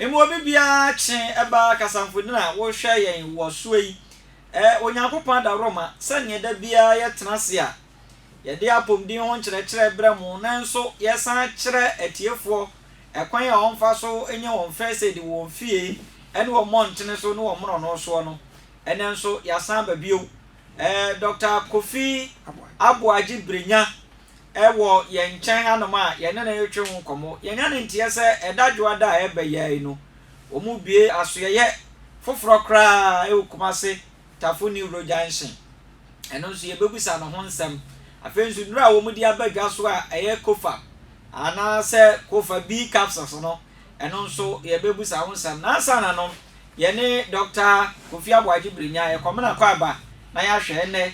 Mmom obi biara kye ba kasamfoni a wohwɛ yɛn wɔ soɛ yi, ɛ, Onyankopɔn adaworoma, sɛdeɛ da biara yɛtena ase a, yɛde apɔmuden ho nkyerɛkyerɛ brɛ mo, nanso yɛsan kyerɛ atiefoɔ ɛkwan a wɔmfa so nyɛ wɔn fɛsɛdi wɔ wɔn fie ne wɔ mmɔntene so ne wɔ mmorɔno soɔ no, ɛnnɛ nso yɛasan aba bio. Ɛ, Dɔkta Kofi Aboagye Brenya, wɔ yɛn nkyɛn hanom a yɛne no retwe ho nkɔmmɔ. Yɛanya no nteɛ sɛ ɛda Dwoada a ɛreba yi ara yi no, wɔrebue asoɛeɛ foforɔ koraa wɔ Kumasi Tafo New Road Junction. Ɛno nso, yɛbɛbisa no ho nsɛm. Afei nso, nnuro a wɔde aba dwa so a ɛyɛ Cofab anaasɛ Cofa B capsules no, ɛno nso yɛbɛbisa ho nsɛm. Na ansa na no, yɛne Dɔkta Kofi Aboagye Birinya, yɛkɔmena kɔ aba na yɛahwɛ ɛnnɛ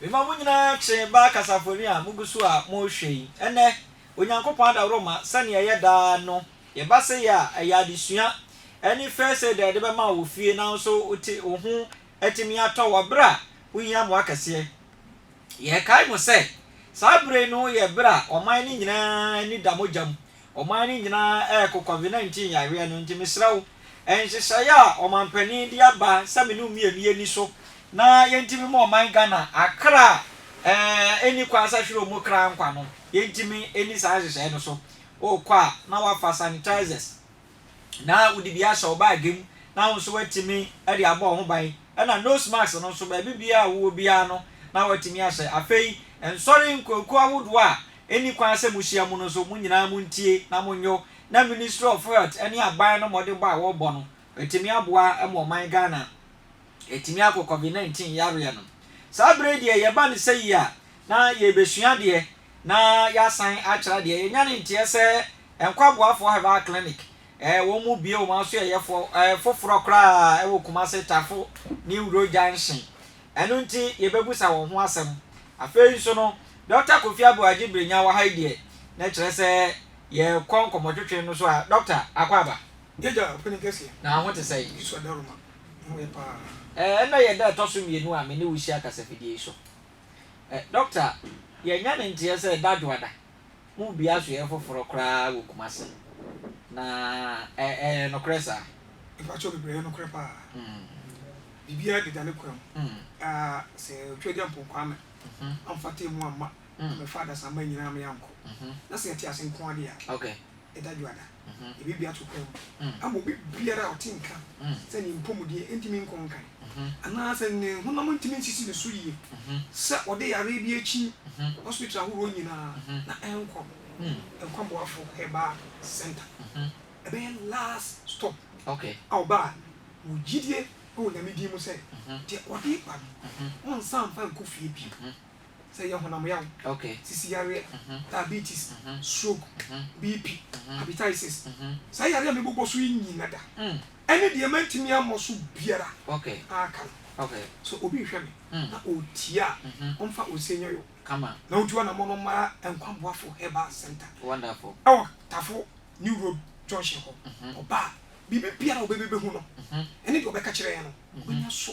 Mema mo nyinaa kye baa kasafoni a mugu so a morehwɛ yi. Ɛnnɛ, Onyankopɔn adaworoma sɛnea ɛyɛ daa no, yɛba sɛ yɛ a, ɛyɛ adesua. Ɛne First Aid a yɛde bɛma wo wɔ fie nanso wo ti, wo ho atumi atɔ wo bere a wohia mmoa kɛseɛ. Yɛkae mu sɛ, saa bere no yɛ bere a ɔman no nyinaa ani da mogya mu. Ɔman no nyinaa reko Covid-19 yareɛ no. Nti mesrɛ wo, nhyehyɛeɛ a ɔmanpanin de aba sɛ me ne wo mmienu yɛnni so na yɛntumi mma ɔman Ghana akra a ɛnni kwan sɛ ahwere wɔn kra nkwa no, yɛntumi nni saa nhyehyɛeɛ no so. Wokɔ a, na woafa sanitizers. na wode bi ahyɛ wo baage mu na wo nso woatumi de abɔ wo ho ban, ɛna nose mask no nso baabi biara a wowɔ biara no na woatumi ahyɛ. Afei nsɔre nkuakuo ahodoɔ a ɛnni kwan sɛ mohyia mu no nso mo nyinaa montie na monyɔ na Ministry of Health ne aban no mmɔdenbɔ a wɔrebɔ no atumi aboa ma ɔman Ghana Ɛtumi akɔ covid 19 yareɛ no. Saa berɛ yi deɛ yɛba no sɛ yi a na yɛrebɛsua adeɛ na yɛasan akyerɛ adeɛ. Yɛnya no nteɛ sɛ Nkwaboafoɔ Herbal Clinic wɔn bue wɔn asoɛyɛfoɔ foforɔ koraa wɔ Kumase Tafo New Road Junction. Ɛno nti yɛbɛbusa wɔn ho asɛm. Afei nso no Dɔkta Kofi Aboagye Brenya wɔ ha yi deɛ na kyerɛ sɛ yɛkɔ nkɔmmɔtwetwe no so a Dɔkta akɔ aba. Gyagya, ɔpɛni kɛseɛ. Na wo ho te sɛn? Yesu Adaroma. Ɛɛ, ɛnnɛ yɛ da a ɛtɔ so mmienu a me ne wo hyia kasafidie yi so. Ɛ, Dɔkta, yɛanya no nteɛ sɛ dadwoada mu dua so yɛ foforɔ koraa wɔ Kumasi. Na ɛ, ɛyɛ nokorɛ saa? Mpakyɛw, mebrɛ, ɛyɛ nokorɛ paa. Biribiara deda ne kwan mu. Mm. Ɛ, sɛ Otwaadi Ampong Kwame amfa atemmu amma, ammɛfa adasamma nyinaa ama yɛankɔ, na sɛ yɛte ase nko ara deɛ a, Okay. ɛda dwoada. ebi bia to kwamu ama obi biara a ɔte nka sɛ ne mpɔmudeɛ ntumi nkɔ nkan anaasɛ ne honam ntumi nsisi ne so yie sɛ ɔde yareɛ bi akyi hospital ahoroɔ nyinaa na ɛnkɔ Nkwa Boafo Herbal Centre. Ɛbɛyɛ last stop a ɔba a wɔ gyidie wɔ Nyame din mu sɛ deɛ ɔde ba no ɔnsan mfa nkɔ fie bio. sɛ ɛyɛ honam yaw, sisi yareɛ, diabetes, stroke, BP, hepatitis, saa yareɛ a mebobɔ so yi nyina da, ɛne deɛ mantumi ammɔ so biara aka no. Sɛ obi rehwɛ me na ɔretie a, ɔmfa Osei Nyoyo na ɔntu anammɔn no mmra Nkwa Boafo Herbal Centre wɔ Tafo New Road Junction hɔ. Ɔba a, biribiara a ɔbɛbɛbɛhu no ne deɛ ɔbɛka kyerɛ yɛn no, ɔbɛnya so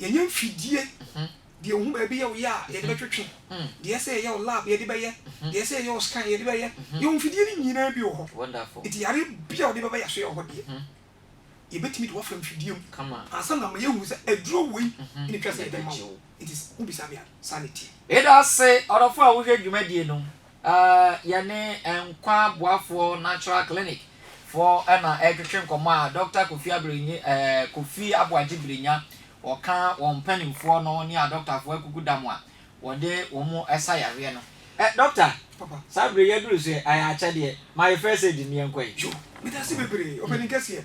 yɛnyɛ mfidie deɛ wohu baabi yɛ wo yɛ a yɛde bɛtwetwe deɛ ɛsɛ yɛyɛ wo lab yɛde bɛyɛ deɛ ɛsɛ yɛyɛ wo scan yɛde bɛyɛ yɛwɔ mfidie no nyinaa bi wɔ hɔ nti yareɛ bi a wode bɛba yɛaso yɛ wɔ hɔ deɛ yɛbɛtumi de woafa mfidie mu ansa na ma yɛhunu sɛ aduro wei ne twa sɛ yɛde ma wo nti wobisa me a saa ne teɛ yɛda ase ɔdɔfo a wohwɛ dwumadie no Yɛne Nkwa Boafoɔ Natural Clinic foɔ na ɛretwetwe nkɔmmɔ a Dɔkta Kofi Aberenye ɛɛ Kofi Aboagye Birenya ɔka wɔn mpanimfoɔ no ne adɔktafoɔ akuku da mu a wɔde wɔn sa yareɛ no. Ɛ Dɔkta, saa berɛ yi aduru so ɛ, ayɛ akyɛdeɛ. Ma yɛ first aid no yɛnkɔ ɛ. Joe, medase bebree, ɔpanin kɛseɛ.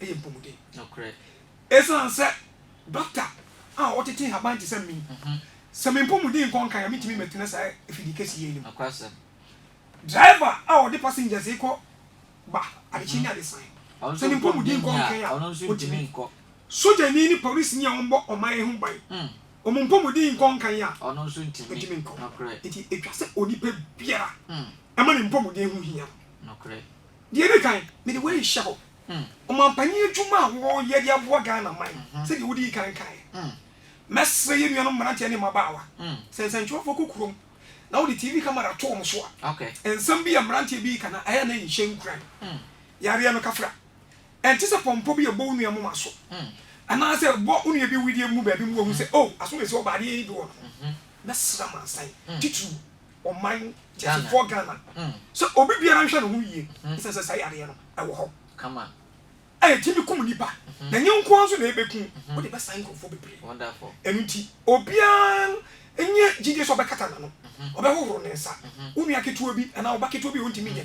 yɛ mpɔmuden. Nokorɛ. Esiane sɛ dɔkta a ɔtete nhaban te sɛ me, sɛ me mpɔmuden nkɔ nkan a, mentumi mmɛtena saa afidie kɛseɛ yi no mu. Nokwasɛm. Driver a ɔde passengers rekɔ ba adekyee ne adesae, sɛ ne mpɔmuden nkɔ nkan a, ɔntumi. Sogyani ne polisini a wɔbɔ ɔman yi ho ban, wɔn mpɔmuden nkɔ nkan a, wɔntumi nkɔ. Enti ɛtwa sɛ onipa biara ma ne mpɔmuden ho hia no. Deɛ ɛdi kan, mede wei rehyɛ hɔ. Ɔmanpanin adwuma a wɔreyɛ de aboa Ghana man sɛdeɛ wodii kan kaeɛ. Mɛsrɛ yɛn nuanom mmeranteɛ ne mmabaawa sɛ nsɛntwerɛfoɔ kɔ kurom na wode TV camera to wɔn so a, nsɛm bi a mmeranteɛ bi reka no, ɛyɛ a na ɛnhyɛ nkuran. Yareɛ no kafra. Ɛnte sɛ pɔmpɔ bi a ɛbɔ wo nua moma so anaasɛ ɛbɔ wo nua bi wedeɛ mu baabi ma wahu sɛ, oh, aso na ɛsi hɔ ba adeɛ yi de wɔ ne ho. Mɛsrɛ amansan titiriw Ɔman Kyekyefɔɔ Ghana sɛ obi biara nhwɛ ne ho yie ɛsiane sɛ saa yareɛ no ɛwɔ hɔ kama a ɛtumi kum nipa na ɛnyɛ wo nko ara nso na ɛbɛku wo, wode bɛsan nkurɔfoɔ bebree. Ɛno nti obiara nyɛ gyidie sɛ ɔbɛkata n'ano, ɔbɛhohoro ne nsa. Wo nua ketewa bi anaa wo ba ketewa bi a ɔntumi nyɛ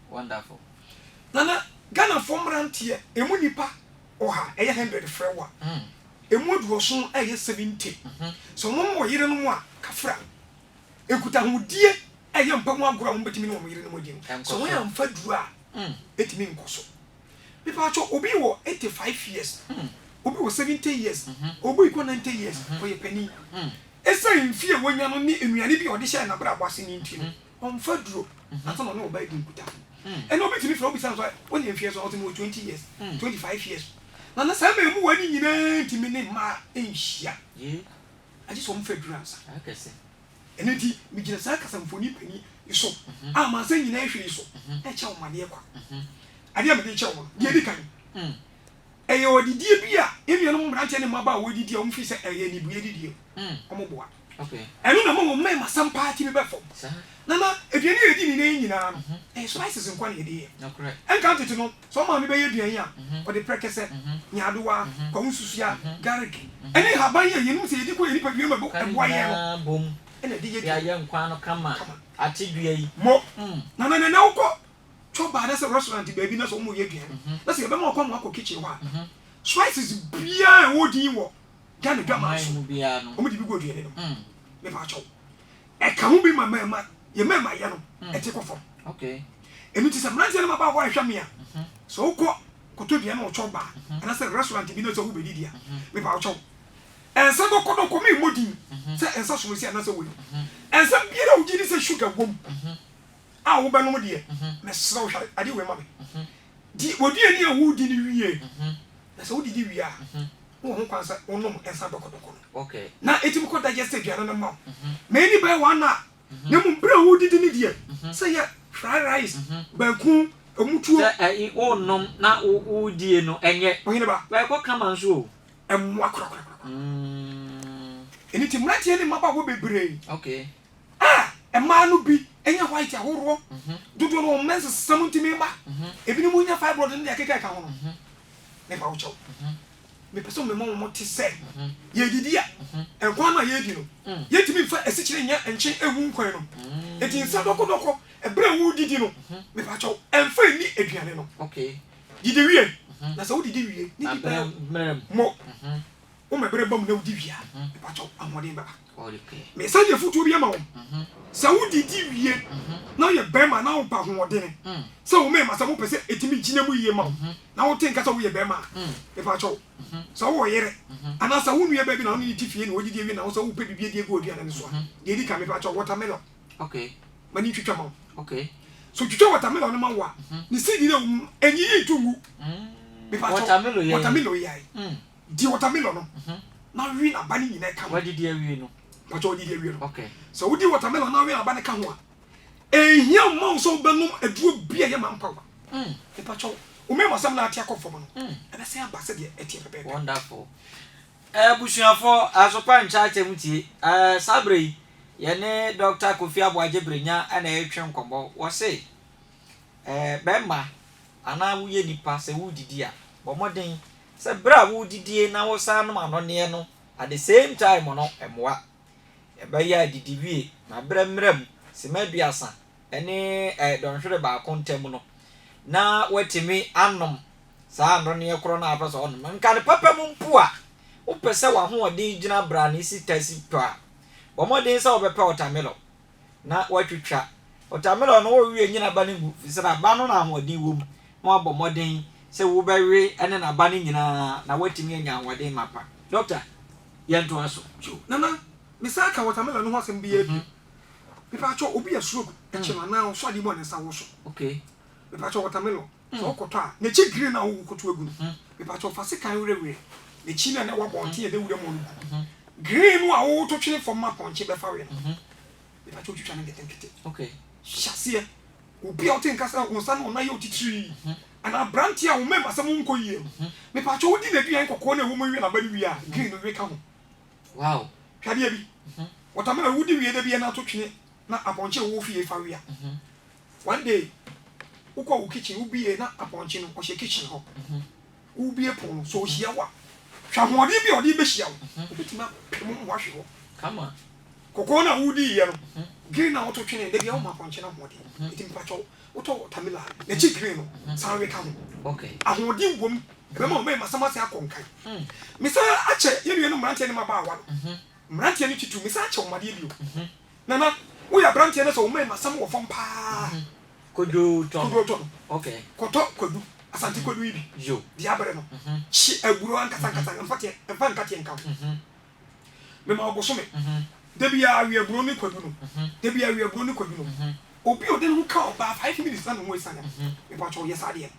Wonderful. Nana, Ghanafoɔ mmeranteɛ, ɛmu nnipa ɔha, ɛyɛ hundred frɛ wo a, ɛmu aduɔson ɛyɛ seventy, sɛ wɔn wɔ yerenom a, kafra. Nkutahodie ɛyɛ mpa mu agorɔ a wɔbɛtumi ne wɔn yerenom adi no, sɛ wɔn amfa aduro a, ɛtumi nkɔ so. Mepaatwɔ, obi wɔ eighty five years, obi wɔ seventy years, obi rekɔ ninety years, ɔyɛ panin. Ɛsiane mfeɛ a wanya no ne nnuane bi a ɔde hyɛɛ n'abrabɔ ase no nti no, Ɔmfa duro ansa na ɔne ɔbaa adi nkutafo. Ɛnna obetumi frɛ wo bisa no sɛ, Wo ne mfeɛ so a? Ɔte mewɔ twenty years, twenty five years. Na na saa mmaamua no nyinaa nti me ne mmaa nhyia. Agye sɛ ɔmfa duro ansa. Ɛno nti megyina saa kasamfonin panin yi so a amansan nyinaa hwɛ yi so rekyɛ wo amaneɛ kwa. Adeɛ a mede rekyɛ wo no, deɛ ɛdi kan, Ɛyɛ adidie bi a yɛn nuanom mmeranteɛ ne mmabaa a wɔredidi a wɔfiri sɛ ɛyɛ anibue adidie no, wɔboa. Ɛno na ɛma wɔn mɛn ma sam paa tumi bɛ fam. Na na aduane a yɛdi ne nnɛ yi nyinaa no, ɛyɛ spices nko ara na yɛde yɛ. Ɛnkan tete no, sɛ wo maame bɛyɛ aduan yi a, ɔde prɛkɛsɛ, nyaadowa, kwawu nsusuaa, garlic, ne nhaban yi a yɛnom sɛ yɛdi gu yɛn nipadua mu a ɛboa yɛn no na ɛde yɛ aduane no kama. Mo, na na ɛnnɛ wokɔ tɔ baa anasɛ restaurant baabi na sɛ wɔn yɛ aduane na sɛ yɛbɛma ɔkwan ma wakɔ kitchen hɔ a spices biara a ɛwɔ din wɔ Ghana dwaman so wɔn de bi gu aduane no mu me pa akyɛw ɛka ho bi ma mɛɛma yɛ mɛɛma yɛ no ɛte kɔ fam ɛnu ti sɛ mmeranteɛ no ma ba hɔ ɛhwɛ me a sɛ wokɔ koto aduane wɔ kyɛw baa anasɛ restaurant bi na sɛ wobɛdi di a me pa akyɛw ɛnsa dɔkɔ dɔkɔ me mmɔ din sɛ ɛnsa somasi anasɛ wei ɛnsa biara wogye di sɛ sugar wom a wobɛnom deɛ, mesrɛ wo, hwɛ adeɛ wei ma me. Di w'aduane a woredi no wie, na sɛ wodidi wie a, na wɔ ho kwan sɛ wonom nsa dɔkɔdɔkɔ no, na ɛtumi kɔ digest aduane no ma wo. Ma ɛnni bɛyɛ one hour, na mmom berɛ a woredidi no deɛ, sɛ ɛyɛ fried rice, banku, ɛmu tuo. Sɛ ɛyi worenom na woredie no, ɛnyɛ. Ɔhene ba. Bɛyɛ kɔ kama nso o. Ɛmmoa korakorakora. Ɛno nti mmeranteɛ ne mmabaawa bebree. Okay. A, Mmaa no bi nya white ahoroɔ. Dodoɔ no wɔn mens sesa mu nti mema. Ebinom nya fibroid ne deɛ ɛkeka ɛka ho no. Mepa wo kyɛw. Mepɛ sɛ mema wɔn te sɛ, yɛredidi a, nkwan no a yɛredi no, yɛntumi mfa asikyire nyɛ nkyen ngu nkwan no. Enti nsa dɔkɔ dɔkɔ berɛ a woredidi no, mepa kyɛw, mfa nni aduane no. Didi wie, na sɛ wodidi wie ne bi bɛyɛ, mmɔ wo mɛberɛ ba mu na wodi wie a, mepa kyɛw, ahoɔden bɛba. Me nsa de afotuo bi ama wɔn, sɛ wodidi wie na woyɛ barima na woba ahoɔdene sɛ wo mmarima sɛ mopɛ sɛ ɛtumi gyina mu yie ma wo na wote nka sɛ woyɛ barima a, mepa kyɛw sɛ wowɔ yere anaa sɛ wo nuabaa bi na wo ne no te fie na ɔdidi awie na wo sɛ wopɛ biribi adi agu w'aduane no so a, deɛ ɛdi kan mepa kyɛw watermelon ma ne ntwitwa ma wo. Sɛ ɔtwitwa watermelon no ma wo a, ne seed no a ɛwɔ mu no, ɛnyiyi nto ngu. Mepa kyɛw watermelon yɛ ae. Di watermelon no na we n'aba no nyinaa ka ho. Wadidi awie no. Mpakyɛ wadidi awie no. Okay. Sɛ wodi watermelon na we n'aba no ka ho a, ɛnhia mma wo sɛ wobɛnom aduro bi a ɛyɛ man power. Mm. Mpakyɛ wo mmɛn mu asɛm no a ate akɔ fam no, mm. ɛbɛsan aba sɛdeɛ ɛteɛ pɛpɛɛpɛ. Wonderful. Abusuafoɔ, eh, Asopa Nkyerɛkyɛm tie. Eh, saa berɛ yi, yɛne Dɔkta Kofi Aboagye Brenya na ɛretwe nkɔmmɔ. Wɔse, eh, bɛrima anaa woyɛ nipa sɛ woredidi a, bɔ mmɔden sɛ berɛ a woredidie na woresan nom anonneɛ no at the same time no mmoa. Ɛbɛyɛ a didi wie na berɛ mmra mu sima aduasa ne dɔnhwere baako ntam no na woatumi anom saa anonneɛ korɔ no a wopɛ sɛ wonom no. Nka no papa mu mpo a, wopɛ sɛ w'ahoɔden gyina brane si ta si tɔ a, bɔ mmɔden sɛ wobɛpɛ wɔtamelɔn. na wɔatwitwa wɔtamelɔn no wɔrewe nyi n'aba no ngu efisɛ n'aba no na ahoɔden wom na wɔabɔ mmɔden sɛ wobɛwe ne n'aba no nyinaa na woatumi anya ahoɔden mapa. Dɔkta, yɛntoa so. Yo, Nana, mesan ka wɔtamelɔn no ho asɛm biara bio. Me pa kyɛw, obi a stroke akyi no anaa ɔsɔ adeɛ mu a ne nsa wɔ so. Okay. Mepakyɛw watermelon sɛ wo kɔtɔ a n'akyi green na wo kɔto agu no mepakyɛw fa sekan werɛ werɛ n'akyi na na ɛwɔ abɔnten a ɛda wuram hɔ no gu green no a wo to twene fam ma pɔnkye bɛfa we no mepakyɛw twitwa no nketenkete hyɛ aseɛ obi a wote nka sɛ wo nsa ne wo nan yɛ otitiri anaa aberanteɛ a wo mmɛm asɛm nkɔ yie no mepakyɛw wodi n'aduan kɔkɔɔ na ɛwɔ mu wie na aba no wie a green no we ka ho hwɛ adeɛ bi watermelon wodi wie da bi a na to twene na apɔnkye a ɔwɔ fie fa wia. One day wokɔ wo kitchen wobie na apɔnkye no ɔhyɛ kitchen hɔ. Wobie pon no sɛ ɔhyia wo a, hwɛ ahoɔden bi a ɔde bɛhyia wo. Ɔbɛtumi apɛ mu mmoa ahwe hɔ. Kɔkɔɔ no a wodiiɛ no, green no a woto twenee no, ebia woma apɔnkye no ahoɔden. Nti mepakyɛ wo, wotɔ watermelon a, n'akyi green no, san we ka ho. Ahoɔden wom. Ɛbɛma wo mmarima asɛm ase akɔ nkan. Mesan akyɛ yɛn nuanom mmeranteɛ ne mmabaawa no Mmeranteɛ no twi tu, mesan akyɛ wɔn adeɛ bio. Nana, woyɛ aberanteɛ na sɛ wo main asɛm wɔ fam paa. Koduo tɔ no. Koduo tɔ no. Okay. Kɔtɔ kwadu, Asante kwadu yi bi. Yo. Deɛ abere no. Hye aburo ankasa ankasa, mfa teɛ, mfa nkateɛ nka ho. Mema wo bosome. Da biara we aburo ne kwadu no. Da biara we aburo ne kwadu no. Obi a ɔde ne ho ka ɔbaa five minutes na ne ho asiane no, mepakyɛw yɛ saa adeɛ no.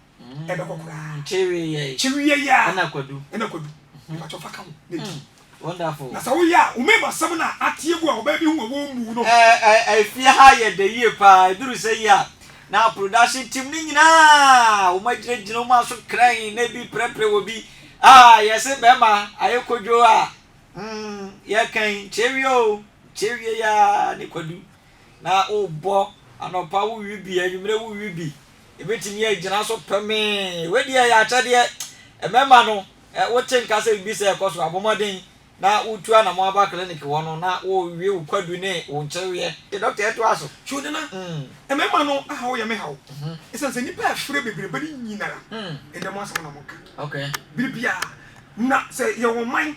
ɛbɛkɔ koraa kyereɛɛ kyereɛɛ ɛna kwadu ɛna kwadu mpatsɔ fa ka ho na di wonderful na sɛ woyɛ a wo mɛma sɛm na ateɛ gu a ɔbaa bi ho a wɔmmu no ɛɛ ɛfie ha yɛ dɛ yie paa ɛduru sɛ yie a na production team no nyinaa wɔn agyinagyina wɔn aso kran na ebi prɛprɛ wɔ bi ah yɛse bɛrima ayɛ kodwo a mm yɛkan kyereɛ o kyereɛ ya ne kwadu na wobɔ anɔpa wowi bi anwummerɛ wowi bi Yɛbɛtumi agyina so pemee. Wei deɛ ɛyɛ akyɛdeɛ. Mmarima no, wote nka sɛ biribi sɛɛ rekɔ so a, bɔ mmɔden na wotu anamɔn aba clinic hɔ no na wowie wo kwadu ne wo nkyeweɛ. Te doctor ɛtoa so. Kyodena, Mmarima no ahaw yɛ me haw ɛsiane sɛ nnipa ɛfrɛ bebrebe no nyinara ɛdɛm asɛm na wɔka bere biara. Na sɛ yɛwɔ man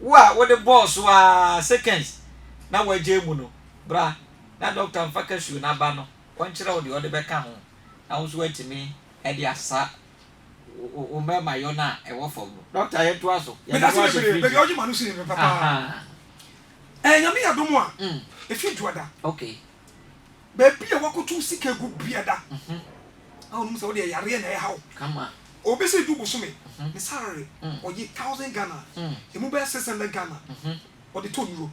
Wo a wode bɔɔ so ara seconds na woagyae mu no, bra na dɔkta mfa kasuo no aba no ɔnkyerɛ wo deɛ ɔde bɛka ho na wo nso woatumi de asa wo mmarimayɔ no a ɛwɔ fam no. Dɔkta yɛntoa so. Yɛde wo ahyɛ fridge mu. Ahaa. Ɛɛ Nyame adom a, ɛfie dwoada. Okay. Baabi a woakotow sika agu biada a wonim sɛ wode yɛ yareɛ na ɛreha wo. Obi sɛ du bosome ne salary ɔgye thousand Ghana a, ɛmu bɛyɛ six hundred Ghana ɔde tɔ nnuro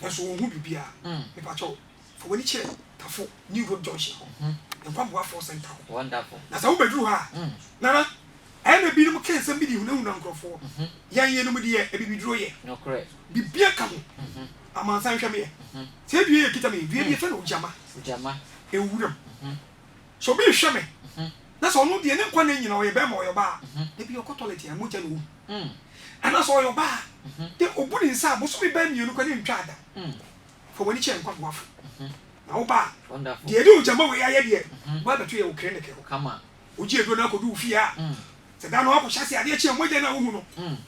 nanso ɔnhu biribiara. Mepakyɛw fa w'ani kyerɛ Tafo New Road Junction hɔ, Nkwaboafoɔ Centre hɔ. Na sɛ wobɛduru hɔ a, Nana, ɛyɛ na binom ka nsɛm bi de hunahuna nkurɔfoɔ. Yɛn yeinom deɛ abibiduro yɛ. Biribiara ka ho. Amansan nhwɛ me ɛ. Sɛ dua yɛ kita me. Dua bi yɛfrɛ no ogyama. Ogyama. Ɛwɔ wuram. Sɛ obi rehwɛ me. Na sɛ ɔno deɛ ne nkwa nna nyina ɔyɛ bɛɛma ɔyɛ ɔbaa. Da bi ɔkɔ tɔlɛt a mogya na ɔwu. Anaa sɛ ɔyɛ ɔbaa. Na ɔbu ne nsa a bosome bɛɛ mmienu koraa na ɛntwaa da. Fa w'ani kyerɛ nkwa boafo. Na wo ba a. Wonderful. Deɛ ɛde ogyama wei ayɛ deɛ. Ɔba abɛto yɛ wɔ clinic hɔ. Kama. Ɔgye aduro no akɔdu wo fie a. Sɛ da no akɔhyɛ aseɛ adeɛ kye a mogya no a wohu no.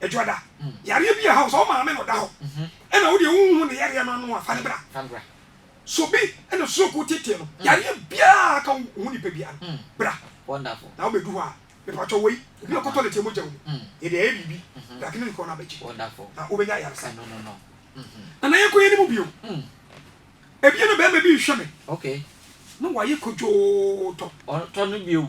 Ɛdwoada, yareɛ bi a ɛha wo sɛ wo maame na ɔda hɔ na wo deɛ wonhu ne yareɛ no ano a, fa no bra. Sɛ obi na stroke wotetee no, yareɛ biara a aka wo ho nipa biara no, bra na wobɛdu hɔ a, mepatwɔ wei, obi a ɔkɔtɔ nɛteɛ mogya wo mu, yɛde ayɛ biribi, bra clinic hɔ na bɛgye na wobɛnya ayaresa. Nana yɛnkɔ yɛnim bio. Ɛbia na bɛɛma bi rehwɛ me na wayɛ kodwootɔ. Ɔtɔ no bio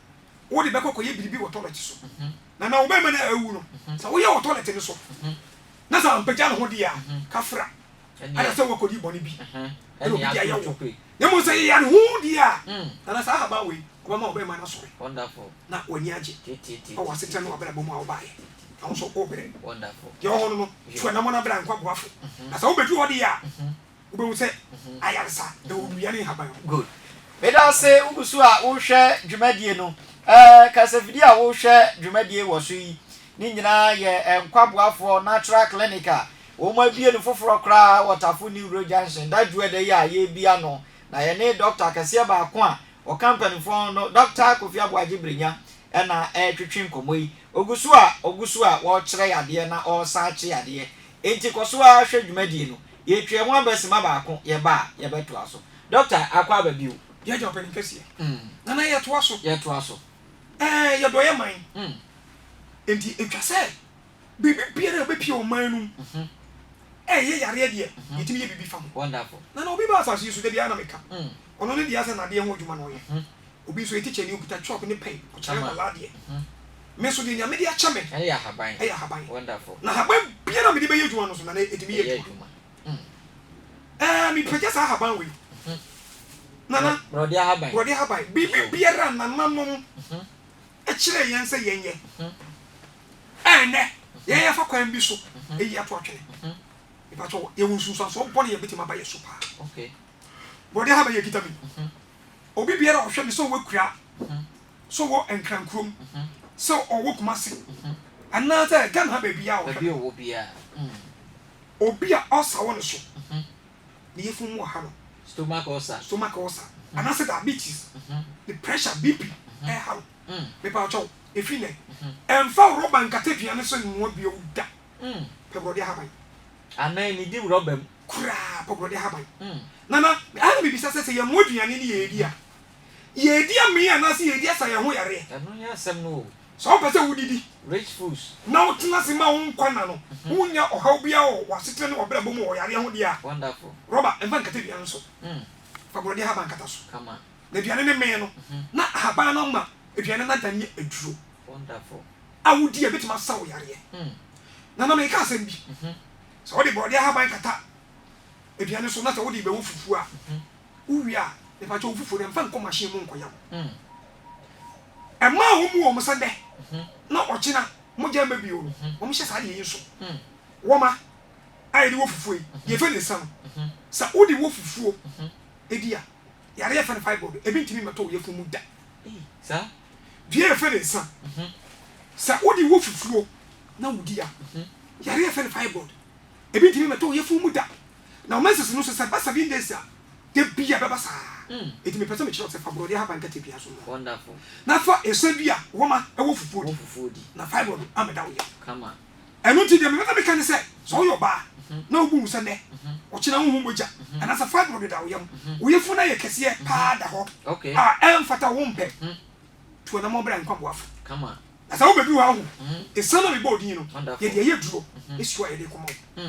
wode bɛkɔ akɔyɛ biribi wɔ tɔlɛt so, na na wo barima no awu no, sɛ woyɛ wɔ tɔlɛt no so, na sɛ ampagya ne ho deɛ a, kafra. Ada sɛ woakɔdi bɔne bi, ɛna obi de ayɛ wo. Na mmom sɛ yeyare ho deɛ a, na na saa ahaban wei ɔbɛma wo barima no asɔre, na w'ani agye wɔ w'asetena ne w'abrabɔ mu a wobaeɛ, na wo nso wobrɛ. Deɛ ɔwɔ hɔ no no tu anammɔn brɛ a nkwa boafo, na sɛ wobɛduru hɔ deɛ a, Wobɛhu sɛ ayaresa wɔ nnua ne nhaban ho. Good. Meda ase wo gu so a wohwɛ dwumadie no. Eh, kasafidie a wohwɛ dwumadie wɔ so yi ne nyinaa yɛ eh, Nkwa Boafoɔ Natural Clinic a wɔn abie no foforɔ koraa wɔ Tafo New Road Junction da dwu ɛda yi a yɛrebi ano. Na yɛne Dɔkta kɛseɛ baako a ɔka mpanimfoɔ ho no, Dɔkta Kofi Aboagye Brenya ɛna ɛretwetwe nkɔmmɔ yi. Ɔgu so a, ɔgu so a ɔrekyerɛ yɛ adeɛ na ɔresan akye yɛ adeɛ. Enti kɔ so ara hwɛ dwumadie no. Yɛtwaa mu aba sima baako, yɛba a, yɛbɛtoa so. Dɔkta, akɔ aba bio? Yɛagye ɔpanin kɛseɛ. Nana, yɛtoa so. Yɛtoa so. Ɛɛ, yɛdɔ yɛn man. Enti ɛtwa sɛ biribi biara a ɛbɛpie ɔman no mu, ɛyɛ yareɛ deɛ, yɛtumi yɛ biribi fa ho. Wonderful. Nana, obi ba asase yi so, da biara na meka. Ɔno ne deɛ asɛ nadeɛ ho adwuma na ɔyɛ obi nso yɛ tikyani okuta chalk ne pɛn ɔkyerɛ nkwadaa adeɛ me nso deɛ nea mede akyɛ me ɛyɛ ahaban ɛyɛ ahaban na ahaban biara mede bɛyɛ adwuma no nso nana ɛtumi yɛ adwuma ɛɛ mepagya saa ahaban wei nana borɔde ahaban borɔde ahaban biribi biara nananom ɛkyerɛ yɛn sɛ yɛn yɛ ɛnɛ yɛn yɛfa kwan bi so ɛyi ato atwene mepatwɔ yɛwɔ nsunsuansoɔ bɔne yɛbɛtumi aba yɛ so paa Bɔde ha bɛyɛ akita me Obi biara a ɔhwɛ me sɛ ɔwɔ akuraa Sɛ ɔwɔ nkrankurom Sɛ ɔwɔ kumase Anaa sɛ Ghana ha baabi a ɔhwɛ me Obi a ulcer wɔ ne so Ne yafun mu ɔha no Stomach ulcer Stomach ulcer Anaa sɛ diabetes Ne pressure, BP, ɛɛha no Me paw kyɛw Ɛfiri nnɛ Ɛmfa rɔba nkata aduane so nnoa bio da Pɛ borɔdeɛ ahaban Anaa nnidi rɔba mu. Koraa, kɔkorɔde ahaban. Nana, ɛha na mibisa sɛ, sɛ yɛmmoa aduane ne yɛredi a, yɛredi amee anaasɛ yɛredi asa yɛn ho yareɛ? Ɛno nyɛ asɛm no o. Sɛ wopɛ sɛ wodidi. Rich foods. Na wotena ase ma wo nkwa nna no, wonnya ɔhaw biara wɔ w'asetena ne w'abrabɔ mu wɔ yareɛ ho deɛ a, Wonderful. rɔba mfa nkata aduane no so. Fa borɔdeɛ ahaban kata so. Kama. Na aduane no mee no, na ahaban no ama aduane no adan yɛ aduro. Wonderful. a wodi a ebetumi asa wo yareɛ. Na na meka asɛm bi, sɛ wode borɔdeɛ ahaban kata aduane no so na sɛ wode bɛwɔ fufuo a, wowie a, mepa kyɛ wo fufuo no mfa nkɔ machine mu nkɔyɛ wo. Ɛmaa wɔn wɔn sɛ nnɛ na ɔkyena mogya mma bio no, wɔn hyɛ saa deɛ yi nso. Wɔma a yɛde wɔ fufuo yi, deɛ yɛfɛ no nsa no, sɛ wode wɔ fufuo ɛdi a, yareɛ yɛfɛ no fibroid, ebi ntumi mmɛtɔ wo yafunu mu da. dua a yɛfrɛ no nsa. Sɛ wode wo fufuo na wodi a, yareɛ a yɛfrɛ no fibroid, ebi ntumi mmɛtɔ wo yafunu mu da. Na wo menses no nso, sɛ ɛba seven days a, da biara ɛbɛba saa. Enti mepɛ sɛ mekyerɛ wo sɛ fa borɔdeɛ ahaban kata aduan so noa, na fa nsã bi a wɔma wɔ fufuo di, na fibroid ammɛda wo yam. Ɛno nti, deɛ mebɛpɛ meka ne sɛ, sɛ woyɛ ɔbaa na wobu wo sɛ nnɛ, ɔkyena wonhu mogya anaasɛ fibroid deda wo yam, wo yefunu no ayɛ kɛseɛ paa da hɔ a ɛmfata wo mpɛ, tu anammɔn bra Nkwaboafo. Na sɛ wobɛduru ha ho, esiam a mebɔɔ din no, yɛde ɛyɛ aduro, esuro a yɛde rekɔma wo.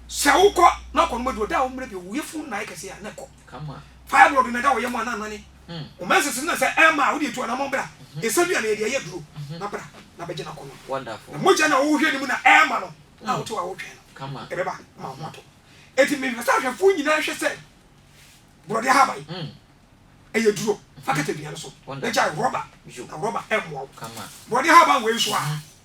Sɛ wokɔ na wokɔnom aduro da a wo mmerɛ bio, wo yefunu no na ayɛ kɛseɛ a, na ɛkɔ. kama. Fire wɔ Bimeda wɔ yɛ mo anan nane wo ma nsese na sɛ ɛma a wode tu anamɔn bra ɛsɛ dua na yɛde ayɛ duro na bra na bɛgye no akɔ nom na mogya na wohwɛ no mu na ɛma no a wote hɔ a wotwɛn no kama ɛbɛba ma wo ho atɔ enti mehwɛ sɛ ahwɛfoɔ nyinaa hwɛ sɛ borɔdeɛ ahaban ɛyɛ duro fa kata dua no so na gyae rɔba na rɔba ɛmmoa wo borɔdeɛ ahaban wei nso a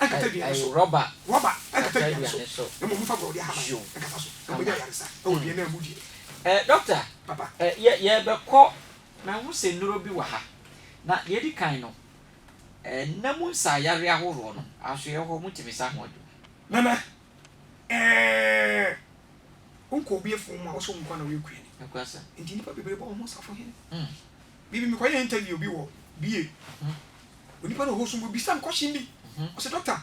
Ayi rɔba kata aduane so. Yo ama hmm. Eh, doctor, eh, yɛ yɛbɛkɔ mahu sɛ nnuro bi wɔ ha na deɛ ɛdi kan no eh, nna mu nsaayareɛ ahoroɔ no asoeɛ hɔ motumi sa ho adwuma. Nana, eh, wonkɔ obi afum mu a wɔsɛ wo nko ara na woyɛ kuani. Nti nnipa bebree bɔ wɔn ho safo he. Mm. Me bi mekɔyɛ interview bi wɔ bie onipa no ɔhost no ɔbisa me question bi ɔsɛ doctor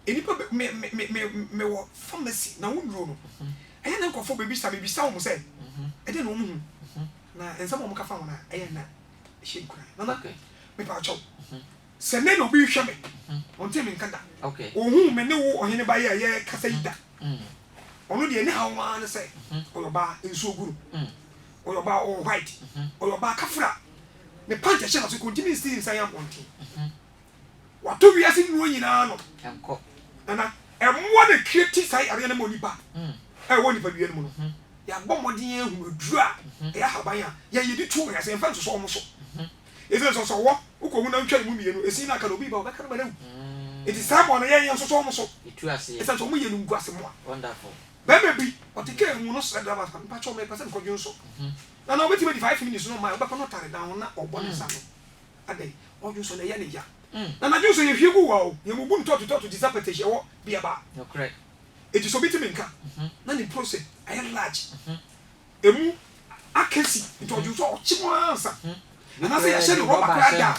nnipa bɛ me me me me mewɔ pharmacy na wo nnuro no ɛyɛ na nkurɔfoɔ bɛbisa mebisa wɔn sɛ ɛdeɛ na wɔn hu na nsɛm a wɔn ka fa ho no ɛyɛ na ɛhyɛ nkuran nana mepa akyɛw sɛ me na obi rehwɛ me ɔnte me nka da ɔhu me ne wo ɔhene ba yi a yɛkasa yi da ɔno deɛ ne haw maa ne sɛ ɔyɛ ɔbaa nsuo gu no. Ɔyɛ ɔbaa a ɔwɔ white. Ɔyɛ ɔbaa kafra. Ne pant a ɛhyɛ n'ase kɔ ntumi nsi ne nsa yɛn abɔnten. Wato wiase nnuro nyinaa ano. Nana, mmoa na ɛcreati saa yareɛ no ma onipa a ɛwɔ nipadua no mu no. Yɛabɔ mmɔden ahunu aduro a ɛyɛ ahaban a yɛn yɛde tu wɔn ase. Yɛmfa nsosɔ wɔn so. Ɛsiane sɛ ɔsɛ ɔwɔ, wokɔhu na wotwa emu mmienu, ɛsin no aka na obi ba a, ɔbɛka no ma no awu. Enti saa mmoa no, yɛn yɛnsosɔ wɔn so ɛsiane sɛ wɔyɛ animguase mmoa. Bɛrima bi, ɔte kaa mu, no srɛ drɛva sɛ, Mepa kyɛw, mepɛ sɛ mekɔ dwonsɔ. Na na ɔbɛtumi adi five minutes no mma a ɔbɛkɔ no ɔtare dan ho na ɔbɔ ne nsa ano. Adɛn? Ɔdwonsɔ no, ɛyɛ ne ya. Na na dwonsɔ yɛhwie gu wa o, yɛbubu no tɔɔto tɔɔto te sɛ pɛtɛhyi a ɛwɔ bea ba. Enti sɛ obi te me nka, na ne mpuro sɛ ayɛ large, ɛmu akɛsi, nti ɔdwonsɔ a, ɔkye mu ara nsa. Anaasɛ yɛahyɛ no rɔba koraa da a.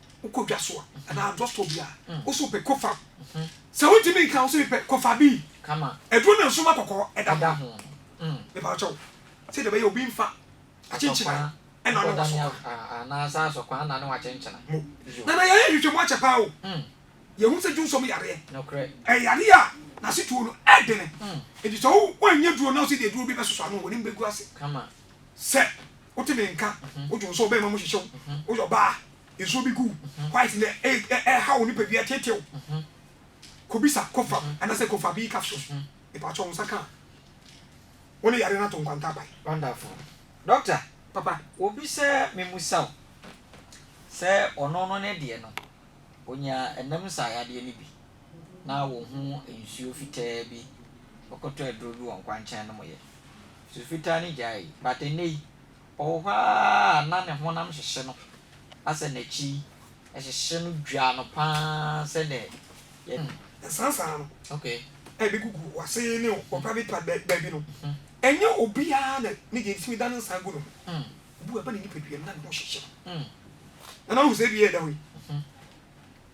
Wokɔ dwa so a, anaa drug store bi a, wo so wopɛ, kɔfa. Sɛ wontumi nka, wo so mepɛ, kɔfa bi. Aduro ne nsoma kɔkɔɔ, ɛda ho. Mepa wo kyɛw, sɛdeɛ ɛbɛyɛ a obi mfa akyenkyenae nna ne w'asɔkwan. Mo. Nana, yɛayɛ nhwehwɛmu akyɛ pa ara o. Yɛahu sɛ dwonsɔ mu yareɛ, ɛyɛ yareɛ a n'asetuo no yɛ dene. Enti sɛ woannya aduro na wo sɛ de aduro bi bɛsosɔ ano a, w'anim bɛgu ase. Sɛ wote me nka, wodwo nso ɔbɛn ma mu hyehye wo. Woyɛ ɔbaa, nsuo bi gu wo white na ɛreha wo nipadua, ɛteetee wo. Kɔbisa Kofram anaasɛ Kofa B capsules. Mepakyɛw, wo nsa ka a, wo ne yareɛ no ato nkwanta aban. Wonderful. Doctor, Papa. obi sɛ memmusa wo sɛ ɔno no ne deɛ no, ɔnya ɛnam nsa ayadeɛ no bi na wo ho nsuo fitaa bi, wokɔtɔ aduro bi wɔ nkwankyɛn nom yɛ. Su fitaa no gyaee, but ɛnnɛ yi, ɔwɔ hɔ ara a na ne honam hyehye no asɛ n'akyi hyehye no dwaa no pa ara sɛdeɛ yɛ. Saa saa no. Okay. A ɛbɛgugu w'ase ne wo private part bɛ, baabi no, ɛnyɛ obiara na ne deɛ ntumi da ne nsa gu no ho. Obi wɔ hɔ a, ɛba ne nipadua mu na ne ho hyehye no. Nana, wohu sɛ ebi yɛ ɛda hɔ yi?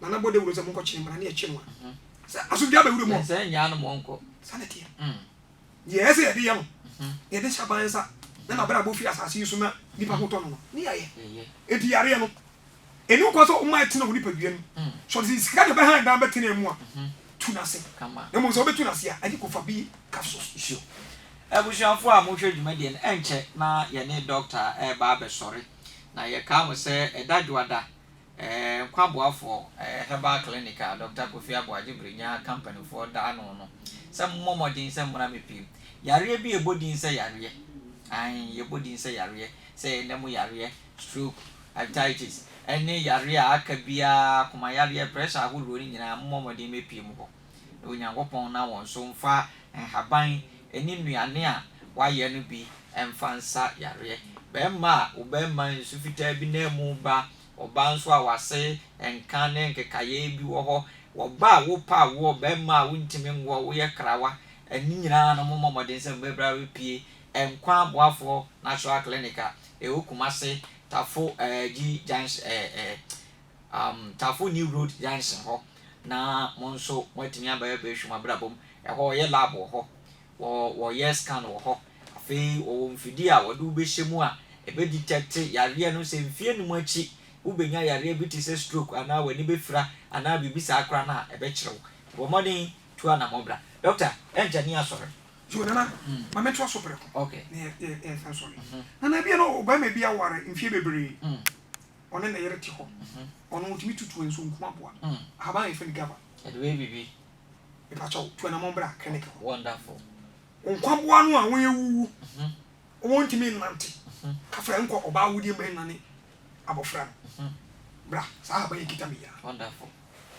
na na bɔ dawuro sɛ monkɔ kyene mmra ne ɛkye no a sɛ asomdwa bɛ wuram hɔ sɛ nyaa no mɔnkɔ saa na ɛteɛ mm. deɛ ɛyɛ sɛ yɛde yɛ no mhm. yɛde hyɛ aban nsa na na bɛrɛ abɔ firi asase yi so na nipa ho tɔ no no ne yɛayɛ enti yareɛ no ɛni nkwa sɛ ɔma ɛtena wo nipadua no mm. sɛ ɔde sika de bɛha dan bɛtena mu a mhm. tu no ase na mmom sɛ wobɛtu no ase a ɛde kɔfa bi ka so suo abusuafoɔ a mohwɛ dwumadie no ɛnkyɛ na yɛne dɔkta ɛreba abɛsɔre na yɛkaa mo sɛ ɛda dwoada Nkwa Boafoɔ Herbal Clinic a Dɔkta Kofi Abu Adjebirenya Companyfoɔ da ano no sɛ mommɔ mmɔden sɛ mmra mmɛpiem. Yareɛ bi a ɛbɔ din sɛ yareɛ, aane, yɛbɔ din sɛ yareɛ, sɛ yɛn nna mu yareɛ, stroke, hepatitis, ɛne yareɛ a aka biara, komayareɛ, pressure ahoroɔ no nyinaa mommɔ mmɔden mmɛpiem hɔ. na Onyankopɔn na wɔn so mfa nhaban ne nnuane a wɔayɛ no bi mfa nsa yareɛ. Bɛrima a wo bɛrima nsu fitaa bi nan mu ba, ɔbaa nso a w'ase nka ne nkekaeɛ bi wɔ hɔ, wɔba a wopa awoɔ, bɛrima a wontumi nwoɔ, woyɛ krawa, ne nyinaa no mommɔ mmɔden sɛ mobɛbra bɛpie Nkwa Aboafoɔ Natural Clinic a ɛwɔ Kumase, Tafo Gyi Junction, um, Tafo New Road Junction hɔ, na mo nso moatumi aba abɛhwɛ mo abrabɔ mu. Ɛhɔ wɔyɛ lab wɔ hɔ, wɔ wɔyɛ scan wɔ hɔ. Afei wɔwɔ mfidie a wɔde wo bɛhyɛ mu a ɛbɛ detect yareɛ no sɛ mfeɛ num akyi wobɛnya yareɛ bi te sɛ stroke anaa w'ani bɛfira anaa biribi saa koraa no a ɛbɛkyerɛ wo. Bɔ mmɔden tu anammɔn bra. Doctor, ɛnkyɛ ne yɛasɔre. Yo, Nana, ma mentoa so prɛko na yɛasan asɔre. Nana, ebia na ɔbarima bi aware mfeɛ bebree. ɔne ne yere te hɔ. Ɔno otumi tutu nsu nku aboa. Ahaban a yɛfrɛ no gava. Ɛde bɛyɛ biribi. Mepakyɛ wo, tu anammɔn bra clinic hɔ. Wonderful. Nkwaboa no a wɔawuwu, wɔntumi nnante, ka frɛ nkɔ ɔbaa awudie ma ɛnnwane abɔfra no. Bra, saa ahaban yi kita me yi ara. Wonderful.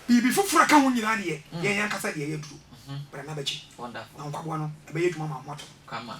Biribi foforɔ a ɛka ho nyinaa deɛ, yɛn ankasa deɛ ɛyɛ aduro. Bra na bɛgye. Wonderful. Na nkwaboa no, ɛbɛyɛ adwuma ma wɔatɔ. Come on.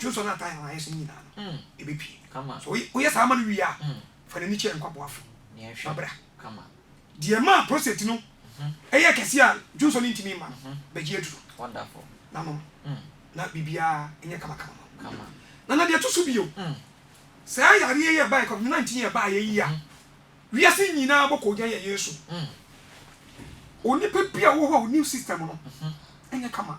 Dwo sɔ no a time a ayɛ sɛ ne nyinaa no ɛbɛpue. Sɛ woyɛ saa ma no wie a, fa n'ani kyerɛ nkwaboafo na bra. Deɛ ɛmaa prostate no yɛɛ kɛseɛ a dwo nsɔ no ntumi mma no, bɛgye aduro na nom na biribiara nyɛ kamakama ma wo. Na na deɛ ɛto so bio, saa yareɛ yi a ɛbaeɛ, Covid 19 a ɛbaeɛ yi a wiase nyinaa bɔ koogyan yɛ yei so no, onipa bi a ɔwɔ hɔ a ɔnni system no nyɛ kama.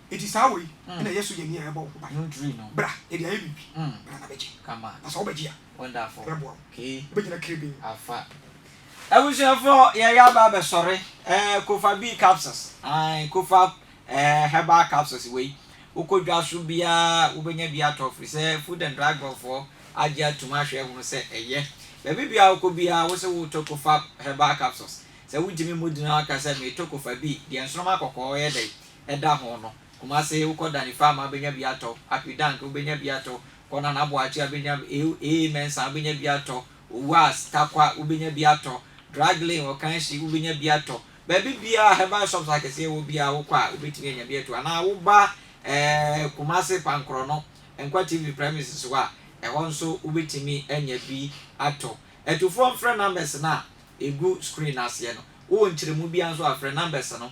Enti saa wɔ yi na ɛyɛ so yɛ nea ɛbɔ wo ho ban. Bra, yɛde ayɛ biribi. Bra na bɛgye. Na sɛ wobɛgye a, yɛbɛboa wo. Wobɛgyina kirebenn. Abusuafoɔ, yɛreyɛ aba abɛsɔre eh, Kofa B capsules, ae, Kofa eh, herbal capsules wei, wokɔ dwa so biara wobɛnya bi atɔ firi sɛ Food and Drug Board foɔ agye atum ahwɛ ahunu sɛ ɛyɛ. Baabi biara wokɔ biara wo se woretɔ Kofa herbal capsules, sɛ wontumi mmɔ din a woka sɛ meretɔ Kofa B, deɛ nsoroma kɔkɔɔ yɛ dɛn? ɛda ho no, Kumase wokɔ Danifama wobɛnya bi atɔ, Apidank wobɛnya bi atɔ, kɔ Nana Aboakye wobɛnya bi, AA Mensah wobɛnya bi atɔ, Owuas, Tarkwa wobɛnya bi atɔ, Drug Lane, Okanshi wobɛnya bi atɔ. Baabi biara a herbal shops akɛseɛ wɔ biara wokɔ a wobɛtumi anya bi ato anaa woba eh, Kumase Pankorɔ no, Nkwa TV premises hɔ a, ɛhɔ nso wobɛtumi anya bi atɔ. Atufoɔ mfrɛ numbers no a ɛgu screen no aseɛ no. Wowɔ nkyerɛmu biara nso a frɛ numbers no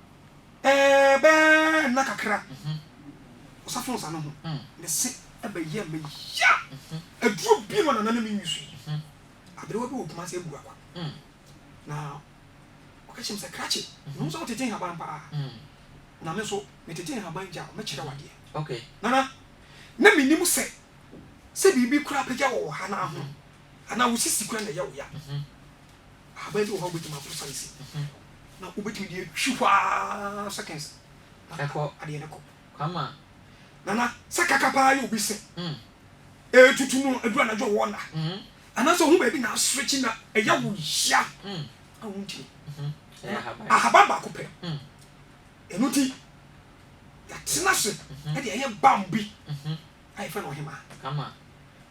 Ɛɛ bɛɛ nna kakra ɔsafo nsa no ho ne se ɛbɛyɛ me ya. Aduro bi ma nana ne me nwi so yi. Aberewa bi wɔ Kumase Agua kwa. Na ɔka kyerɛ me sɛ krakye ne ho sɛ wotete nhaban paa. Na me nso metete nhaban gya mɛkyerɛ wo adeɛ. Nana na menim sɛ sɛ biribi kura apagya wɔ wɔ ha no ho anaa wo sisi kura na ɛyɛ wo ya. Ahaban bi wɔ hɔ a wobɛtumi ato sansi na wobɛtumi de atwi hɔ ara seconds na adeɛ no kɔ. Kwama. Nana, sɛ kaka paa yɛ obi se ɛretutu no aduru anadwo ɔwɔ nna anaasɛ ɔhu baabi na asrekye na ɛyɛ wo ya a wontumi. Ahaban baako pɛ. Ɛno nti yɛatena ase de ɛyɛ balm bi a yɛfrɛ no ɔhemaa.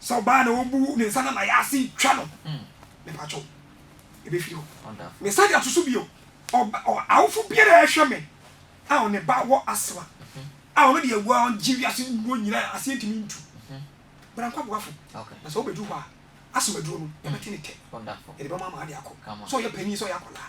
Sɛ ɔbaa na ɔbu ne nsa na n'ayɛ ase twa no, mepakyɛw, ebefi hɔ. Mesan de ato so bio, awofo biara a ɛhwɛ me a ne ba wɔ asthma a ɔno deɛ wagye wiase nnuro nyinaa aseɛ ntumi ntu. Bra nkɔ aboafo. Na sɛ wobɛdu hɔ a, asthma duro no, yɛbɛte ne tɛ. Yɛde bɛma ama ade akɔ. Sɛ ɔyɛ panin, sɛ ɔyɛ akwadaa.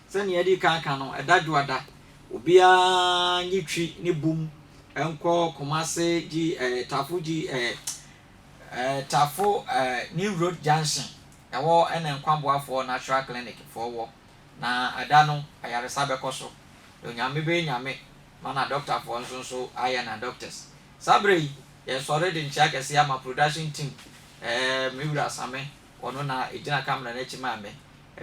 Sɛnea yɛadi kan aka no, ɛda Dwoada, obiara nye twi ne bum nkɔ Kumase G eh, Tafo G eh, eh, Tafo eh, New Road Junction, ɛhɔ na Nkwaboafoɔ Natural Clinic foɔ wɔ, na ɛda no ayaresa bɛkɔ so, na Onyame bɛyɛ Nyame ma na dɔktafoɔ nso nso ayɛ na doctors. Saa berɛ yi, yɛresɔre de nkyea kɛseɛ ama production team, eh, me wura Same, Ɔno na egyina camera no akyi maa me.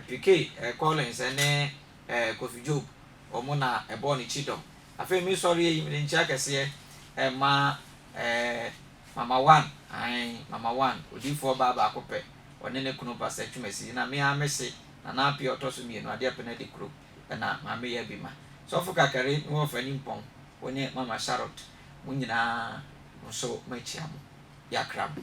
Pikey, eh, Collins ne eh, Kofi Job, wɔn na ɛbɔɔ ne kyidɔm. Afei me sɔreɛ yi mede nkyea kɛseɛ eh, ma eh, Mama One, ae, Mama One, odiyifoɔ baa baako pɛ, ɔne ne kunu Pastor Twumasi, na me ara mese Nana Appiah ɔtɔ so mmienu, Adeɛ Pene Adi Kuro, ɛna Maame Yaa Bi Ma. Sɔfo Kakari ne Wɔfa Nimpɔn, wo ne Mama Charlotte, mo nyinaa nso makyia mo. Yɛakra mo.